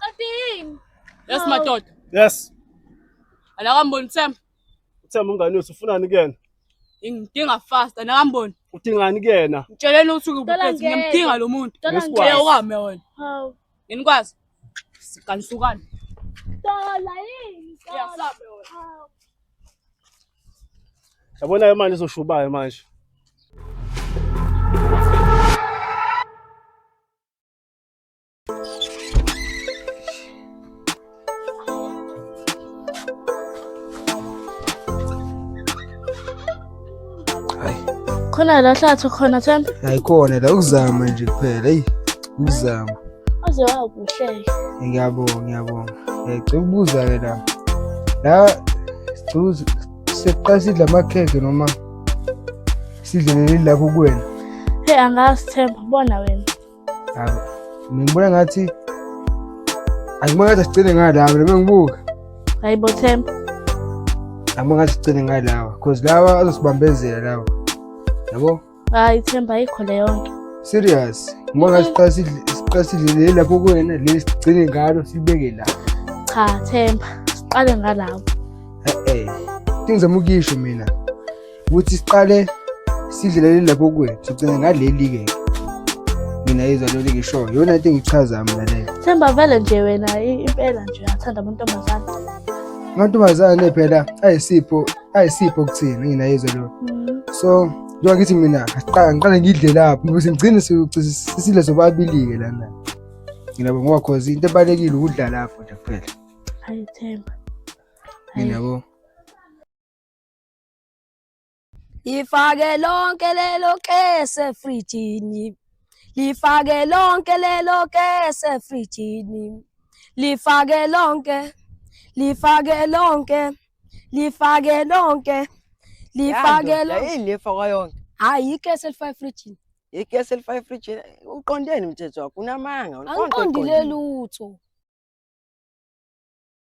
Qedini. Yes madoda. Yes. Anakamboni Themba. Themba umngane wethu ufunani kuyena? Ngidinga fast anakamboni. Udingani kuyena? Ngitsheleni ukuthi ngibukezi ngiyamdinga lo muntu. Ngeke ukame wena. Hawu. Nginikwazi. Siganisukani. Dola yini? Yasabe wena. Hawu. Yabona ke manje izoshubayo manje. khona la hlathu khona Themba ayikhona la ukuzama nje kuphela eyi ukuzama aze wakuhleke ngiyabonga ngiyabonga ngicela ukubuza ke la la sicuza seqala sidla amakhekhe noma sidlelele lapho kuwena hey angazi Themba bona wena Ngibona ngathi angibona ngathi sigcine ngalawa noma ngibuka. Hayi bo Themba. Angibona ngathi sigcine ngalawa because lawa azosibambezela lawa. Yabo? Hayi Themba ayikho le yonke. Serious. Ngibona ngathi siqala sidle siqala sidle lapho kuwena leli sigcine ngalo sibeke la. Cha Themba siqale ngalawa. Eh eh. Ngizama ukisho mina. ukuthi siqale sidlelele lapho kuwe sigcine ngaleli-ke mina izwa leli ngishoyo yona into engichaza mina leyo themba vele nje wena i- impela nje uyathanda amantombazane amantombazane phela ayisipho ayisipho kuthina ngina izwa lona Mm. so njengoba ngithi mina asiqale ngiqale ngidle lapho ukuze ngigcine sisidle sobabili-ke lana nginabo ngoba cause into ebalulekile ukudla lapho nje kuphela hayi themba Hayi. nginabo lifake lonke lelo kese frijini lifake lonke lelo kese frijini lifake lonke lifake lonke lifake lonke lifake lonke yini lifaka yonke hayi ikese lifake frijini ikese lifake frijini uqondeni umthetho wakho unamanga angiqondile lutho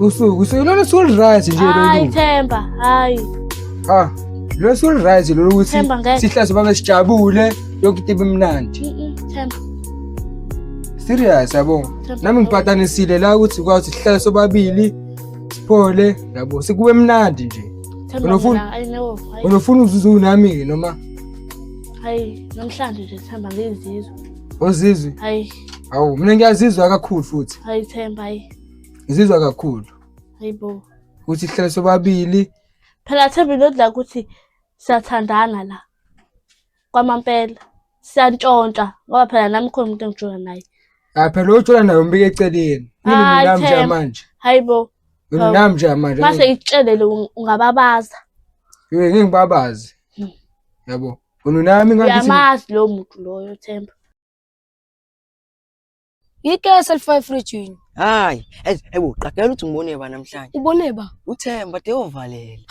usuku uselona solright nje lolu Themba hayi ah lo solright lolu ukuthi sihlase babe sijabule yonke into ibimnandi Themba serious yabo nami ngipatanisile la ukuthi kwazi sihlale sobabili siphole yabo sikube mnandi nje unofuna unofuna uzuzu nami ke noma hayi namhlanje nje sihamba ngezizwe ozizwe hayi Hawu mina ngiyazizwa kakhulu futhi. Hayi Themba hayi. Ngizizwa kakhulu. Hayibo. Ukuthi sihlale sobabili. Phela Themba inodla ukuthi siyathandana la. Kwamampela siyantshontsha ngoba phela nami khona umuntu engijola naye. Ah phela ujola naye umbike eceleni. Mina mina manje manje. Hayibo. Mina manje manje. Mase ngikutshelele ungababaza. Yey ngeke ngibabaze. Hmm. Yabo. Ununami ngathi. Uyamazi lo muntu loyo Themba. Yikesa lifaka efrijini. Hayi, ez- ewu qagela ukuthi ngibone ba namhlanje. Ubone ba? Uthemba deyovalela.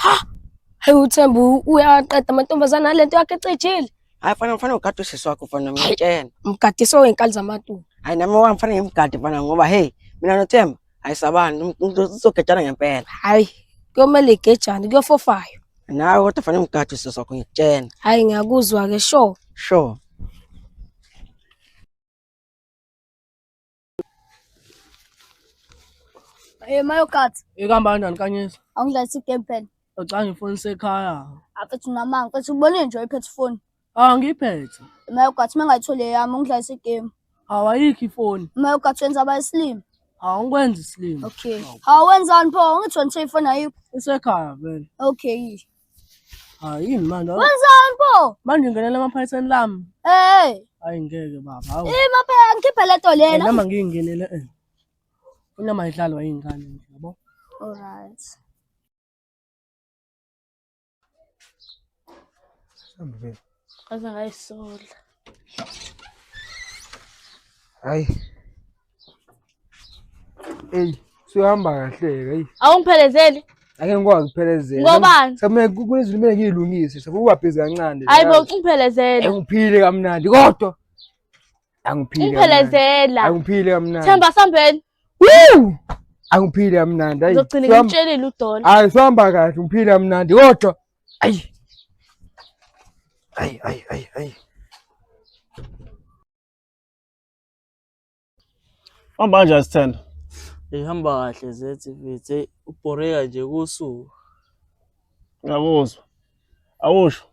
Hayi uThemba u- uyaqeda amantombazane alento yakhe ecijile. Hayi fana mfana ugade usisi wakho fana mina ngitshena. Mgadiswe wenkali zamatulu. Hayi nami wami fana ngimgade fana ngoba hey mina noThemba ayisabani umuntu uzogejana ngempela hayi kuyomele igejane kuyofofayo nawe kodwa fanele umgade usisi wakho ngikutshena hayi ngiyakuzwa ke sure sure Eh mayo kat, Ikamba kanjani kanyisa? angidlalisa i-game plan. Ucanga ifoni sekhaya. Afethu namanga, mfethu ubone nje iphethe ifoni. Ah ngiphethe. Uma ugathi mengayitholi eyami ungidlalisa igame. Hawu ayikho ifoni. Uma ugathi wenza abayisilima. Hawu ngikwenza isilima. Okay. Hawu wenzani pho ungithoni nje ifoni ayikho. Isekhaya vele. Okay. Hayi yini manje? Wenzani pho? Manje ngenela amaphayitheni lami. Eh. Hayi ngeke baba. Hawu. Ima phela ngikhiphe le to lena. Noma ngingenele eh. Unama idlalwa ingane nje yabo. All right. Mhlawumbe vele. Aze ngayisola. Hayi. Ey, suyahamba kahle hey. Awungiphelezeli? Ake ngikwazi ukuphelezela. Ngobani? Sekumele kunezinto kumele ngiyilungise, sekubabhizi kancane. Hayibo ungiphelezele. Ngiphile kamnandi kodwa angiphile ungiphelezela angiphile kamnandi themba sambeni woo angiphile kamnandi ayi ngizogcina ngimtshelile udola hayi sihamba kahle ngiphile kamnandi kodwa ayi ayi ayi ayi ayi hamba kanjani sithanda ihamba kahle zethi mfethu eyi ubhoreka nje kusuku ngiyakuzwa awusho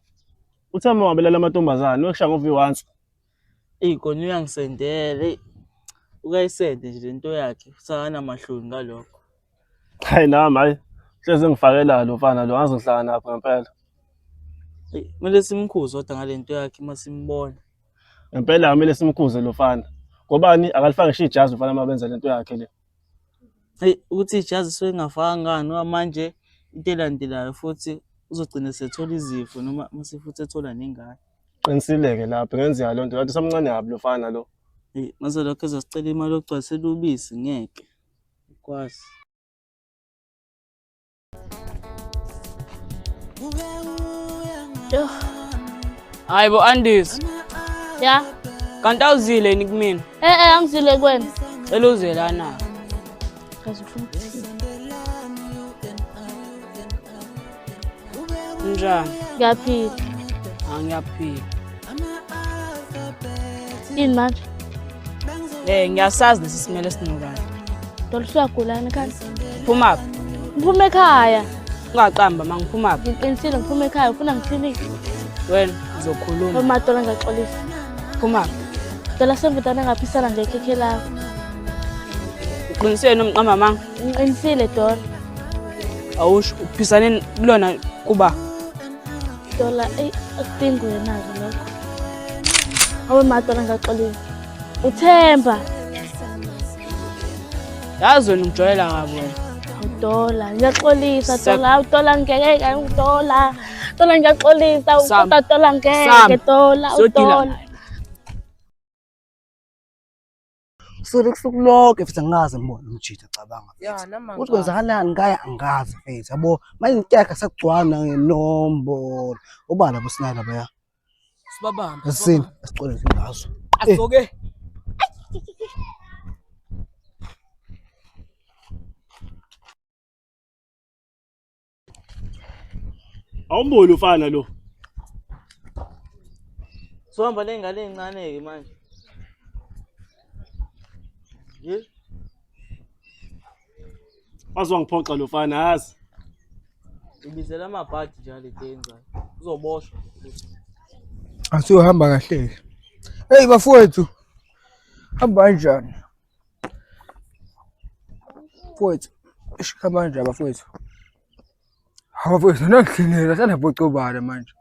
uthemba wabelala amantombazane wekushaya ngovi once Eyi kona uyangisendela eyi ukayisende nje lento yakhe usakanamahloni ngalokho. Hayi nami hayi hleze ngifakela lo mfana lo ngaze ngihlangana naphi ngempela. Eyi kumele simkhuze kodwa ngalento yakhe uma simbona. Ngempela kumele simkhuze lo mfana. Ngobani akalifake ngisho ijazi mfana uma benza lento yakhe le. Eyi ukuthi ijazi suke ngafaka ngani ngoba manje into elandelayo futhi uzogcina sethola izifo noma mase futhi ethola nengane. Qinisile-ke lapho ngenzeka loo nto lathi usamncane kabi lo fana lo. Eyi, mase lokho ezosicela imali yokugcwalisela ubisi ngeke. Kwazi. Yoh, Hayi bo Andis, ya. kanti awuzile yini kumina? Eh eh angizile kwena. Cela uze lana. Njani? Ngiyaphila. Angiyaphila. Yini manje? Eh ngiyasazi lesi simele sinokala. Dol siyagulana kanti. Phuma phi? Ngiphume ekhaya. Ungaqamba mangiphuma phi? Ngiqinisile ngiphume ekhaya ufuna ngithini? Wena uzokhuluma. Uma dola ngaxolisa. Phuma. Cela sembudane ngaphisana ngekhekhe lakho. Uqinisile nomqa mama. Ngiqinisile Dola. Awusho uphisane kulona kuba. Dola ey akudingi wena ke lokho. Awe madola ngaxolile. Uthemba. Yazi wena ungijwayela kabi wena. Dola, ngiyaxolisa Dola, Dola ngeke, Dola. Tola ngiyaxolisa uqoda tola ngeke tola utola. Solo kusuku lonke futhi angikaze ngibone umjitha cabanga. Uthi kwenzakalani ngaya angikaze mfethu yabo manje ngiteka sakugcwana ngenombolo. Ubala bosinaka baya. Sibabambe. Asini asicole ngazo. Asoke. Eh. Awumboni ufana lo. Sohamba nengane encane ke manje. Ye. Azwangiphoxa lo fana yazi. Ibizela amabhadi njalo idenza. Uzoboshwa. Asiyohamba kahle. Hey bafowethu. Hamba kanjani? Mfowethu, eish kamanje abafowethu. Hawu bafowethu, nangihlinela sanabhocobala manje.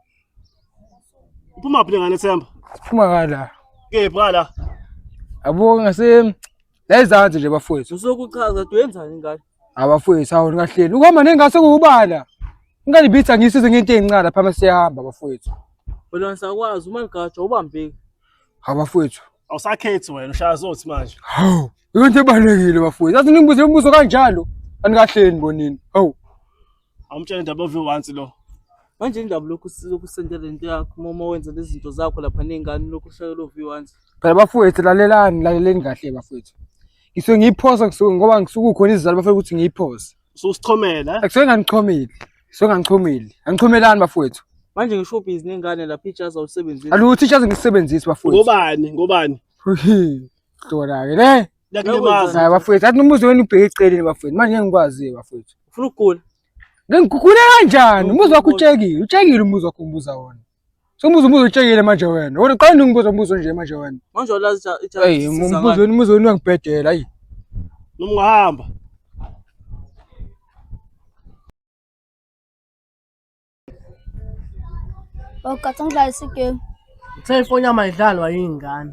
Uphuma phi ngane Themba? Siphuma kala. Kephi ngala? Abo ngase la izansi nje bafowethu. Usokuchaza tuyenzani ngane? Abafowethu hawu ngahleli. Ukuhamba nengase kuubala. Ngalibitha ngisize ngento ezincane lapha masiyahamba bafowethu. Wena ngisakwazi uma ligajwa ubambeki. Hawu bafowethu. Awusakhethi wena ushaya zothi manje. Hawu, yonke ebalekile bafowethu. Athi ningibuze imibuzo kanjalo. Anikahleni bonini. Hawu. Awumtshela indaba ovi once lo. Manje indaba lokhu silokhu sendela into yakho uma uma wenza lezi zinto zakho lapha ney'ngane lokhu ushayela ovi once. Phela bafowethu lalelani, laleleni kahle bafowethu. Ngisuke ngiyiphosa ngisuke ngoba ngisuke kukhona izizathu bafuna ukuthi ngiyiphosa. Ususichomela. Akusuke nganichomile. Suke nganichomile. Angichomelani bafowethu. Manje ngisho busy nengane lapha ijazi awusebenzisi. Alutho ijazi ngisebenzisi bafowethu. Ngobani? Ngobani? Dora ke le. Yakulimaza. Hayi bafowethu, athi umuzi wenu ubheke eceleni bafowethu. Manje ngikwazi bafowethu. Ufuna ukugula? Ngikugula kanjani? Umuzi wakho utshekile. Utshekile umuzi wakho ngibuza wona. Somubuza umbuzo utshekile manje wena. Wena qala ningibuza umbuzo nje manje wena. Manje walazi cha cha. Hey, umbuzo wenu umbuzo wenu uyangibhedela ayi. Noma ungahamba. Bawugathi angidlalise igame. Cellphone yami ayidlalwa yingane.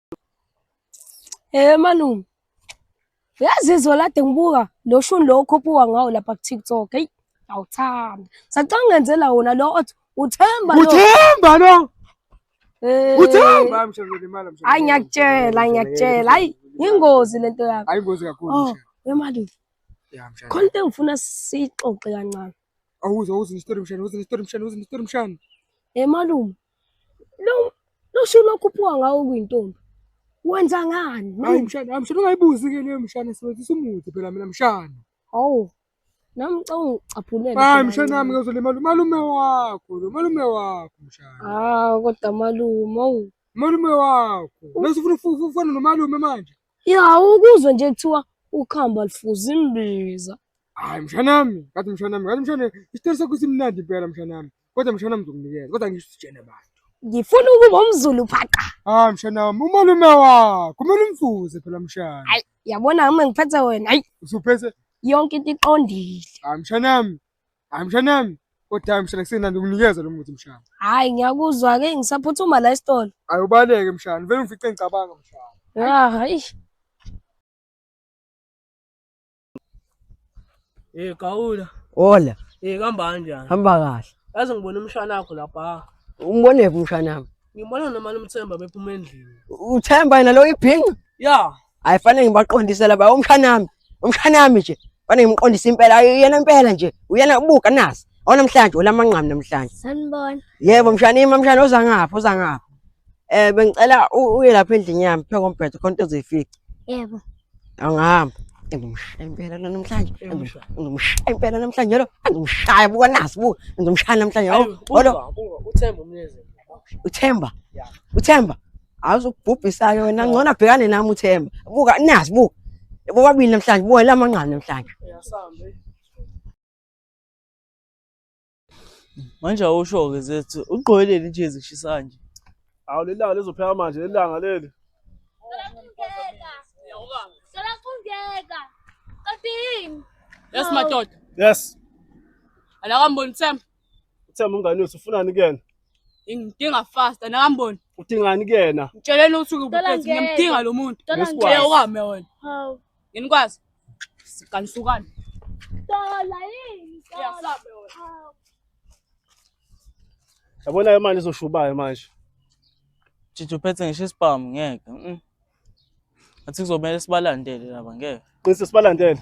Eh malume. Uyazizwa lade ngibuka lo shuni lo okhuphuka ngawo lapha ku TikTok. Hey, awuthanda. Sacanga ngenzela wona lo othi uthemba lo. Uthemba lo. Eh. Uthemba mshelo limala mshelo. Hayi ngiyakutshela, ngiyakutshela. Hayi ingozi lento yakho. Hayi ingozi kakhulu oh, mshelo. Wemali. Ya mshelo. Khona into engifuna sixoxe kancane. Awuze awuze ne story mshelo, awuze ne story mshelo, awuze ne story mshelo. Eh malume. Lo loshini okhuphuka ngawo kuyintombi. Wenza ngani? Hayi mshana, mshana ungayibuzi ke leyo mshana sebenzisa umuthi phela mina mshana. Hawu. Nami ngicela ungicaphulele. Hayi mshana wami ngizolimala umalume wakho, lo malume wakho mshana. Ah kodwa malume, awu. Malume wakho. Bese ufuna ufufu ufana nomalume manje. Ya ukuzwe nje kuthiwa ukhamba lifuza imbiza. Hayi mshana wami, ngathi mshana wami, ngathi mshana isitori sakho simnandi impela mshana wami. Kodwa mshana mzokunikeza. Kodwa ngisho sitshene abantu. Ngifuna ukuba umzulu phaqa. Ah mshana wami umalume wakho kumele umfuze phela mshana. Hayi yabona uma ngiphethe wena. Hayi usuphethe yonke into iqondile. Ah mshana wami. Ah mshana wami. Kodwa mshana kusenandi ukunikeza lo muthi mshana. Hayi ngiyakuzwa ke ngisaphuthuma la esitolo. Hayi ubaleke mshana. Vele ngifice ngicabanga mshana. Ah hayi. Eh Gawula. Hola. Eh kamba kanjani? Hamba kahle. Yazi ngibona umshana wakho lapha. Umbone phi umshana wami? Ngibona nomali umthemba bephuma endlini. Uthemba yena lo ibhinqa? Ya. Hayi fanele ngibaqondise laba umshana wami. Umshana wami nje. Fanele ngimqondise impela yena impela nje. Uyena ubuka nasi. Awona namhlanje olamanqamu namhlanje. Sanibona. Yebo mshana ima mshana oza ngapha oza ngapha. Eh bengicela uye lapha endlini yami pheko mbhedo khona into ozoyifica. Yebo. Angihamba. Ngizomshaya impela lo namhlanje. Ngizomshaya impela namhlanje lo. Ngizomshaya buka nazi buka. Ngizomshaya namhlanje. Olo. Uthemba umnezi. Uthemba. Uthemba. Awuzokubhubhisa ke wena ngcono abhekane nami uthemba. Buka nazi buka. Bobabili namhlanje buka lamanqane namhlanje. Uyasambe. Manje awusho-ke zethu ugqoke leli jezi kushisa kanje. Awu leli langa lizophela manje leli langa leli. Cela kungeka. Kanti yini? Yes madoda. Yes. Anakamboni Themba. Uthemba umngane wethu ufunani kuyena? Ngidinga fast anakamboni. Udingani kuyena? Ngitsheleni ukuthi Cela ukuphethe ngeke. ngiyamdinga lo muntu. Cela Ngeke ngeke. ukame wena. Hawu. Nginikwazi. Siqanisukani. Dola yini? Yasabe wena. Yabona yo manje izoshubayo manje. Jiji uphethe ngisho isibhamu ngeke. Mm. Athi kuzomela sibalandele laba ngeke. Qinise sibalandele.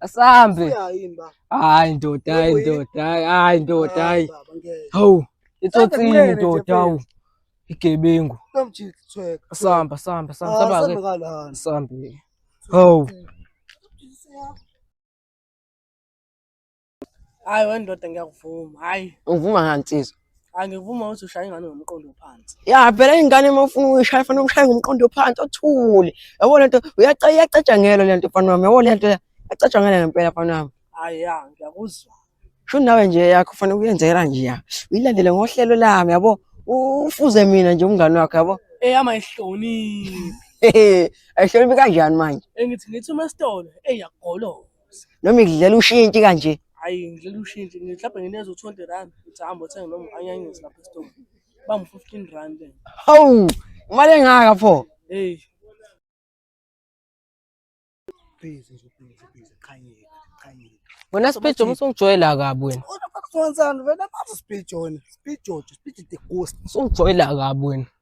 Asambe. Hayi ndoda, hayi ndoda, hayi ndoda, hayi. Hawu, itsotsini ndoda, hawu. Igebengu. Samba, samba, samba, ah, samba. Sambe. Hawu. Hayi wendoda ngiyakuvuma. Hayi. Uvuma ngani nsizwa? angivuma ukuthi ushaye ingane ngomqondo ophansi ya phela ingane uma ufuna ukuyishaya fanele umshaye ngomqondo ophansi othule yabo lento uyaca iyacatshangelwa lento mfana wami yabo lento yacatshangelwa ngempela mfana wami hayi ya ngiyakuzwa sho nawe nje yakho fanele uyenzela nje ya uyilandele ngohlelo lami yabo ufuze mina nje umngane wakho yabo eyama ihloniphi ayihloniphi kanjani manje engithi ngithi uma sitolo eyagoloka noma ngidlela ushintshi kanje hayi ngidlela ushintshi mhlawumbe ngineza u-twenty rand uthi hambe othenge noma anyanyisi lapha esitolo bangu-fifteen rand hawu imali engaka pho eyi busy nje busy busy qhanyeka qhanyeka wena sibhijo uma usungijwayela kabi wena kodwa bakufonzani vele bazi sibhijona sibhijojo sibhije the ghost usungijwayela kabi wena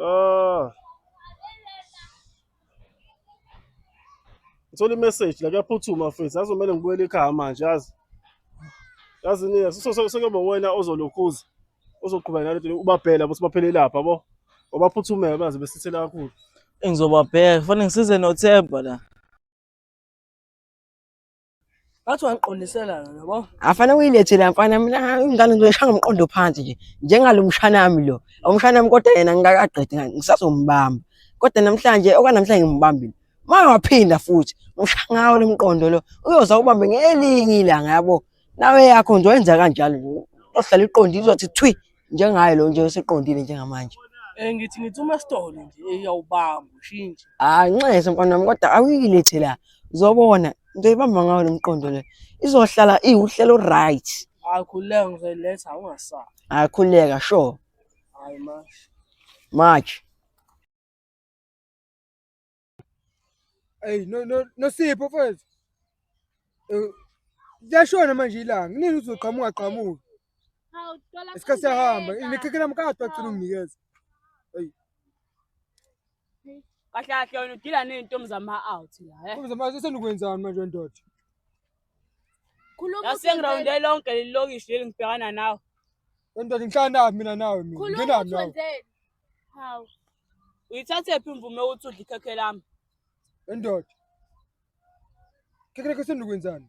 Ah. Ngithola i-message la kuyaphuthuma mfethu. Yazi kumele ngibuyele ekhaya manje yazi. Yazi ni sekuyoba wena ozolokhuza. Ozoqhubeka nale nto ubabhela ukuthi baphele lapha bo. Obaphuthumela baze besithela kakhulu. Engizobabheka. Kufanele ngisize noThemba la. Ngathi wangiqondisela yona yabo. Afana uyilethele mfana mina ingane ngizoyishaya ngomqondo phansi nje. Njengalo mshana wami lo. Umshana wami kodwa yena ngingakaqedi ngisazombamba. Kodwa namhlanje okwanamhlanje ngimbambile. Manje waphinda futhi ngishaya ngawo lo mqondo lo. Uyoza ubambe ngelinye ilanga yabo. Nawe yakho nje wenza kanjalo nje. Ohlala iqondile uzothi thwi njengaye lo nje oseqondile njengamanje Eh ngithi ngithi uma sitole nje eyawubamba ushintshe. hayi nxese mfana wami kodwa awuyilethe la uzobona into ibamba ngawo lo mqondo le izohlala iwuhlelo right Hayi khuleka ngizoyiletha awungasabi. akhuleka sure Hayi manje. march Eyi no no Nosipho mfethu. Eh, Liyashona manje ilanga. Kunini uzoqhamuka qhamuka. Hawu dola. Isikhathi siyahamba. Nikhekhe nami kade wagcina unginikeza. Kahle kahle wena udila nezintombi zama out la. eh. Kumbe manje senikwenzani manje ndoda? Khuluma. Yasengirawunde lonke leli lokishi leli ngibhekana nawe. Ndoda ngihlala nawe mina nawe mina. Khuluma Ngena nawe. uthwenzeni. Hawu. Uyithathephi imvume ukuthi udle ikhekhe lami? Endoda. Ikhekhe lakho sendikwenzani?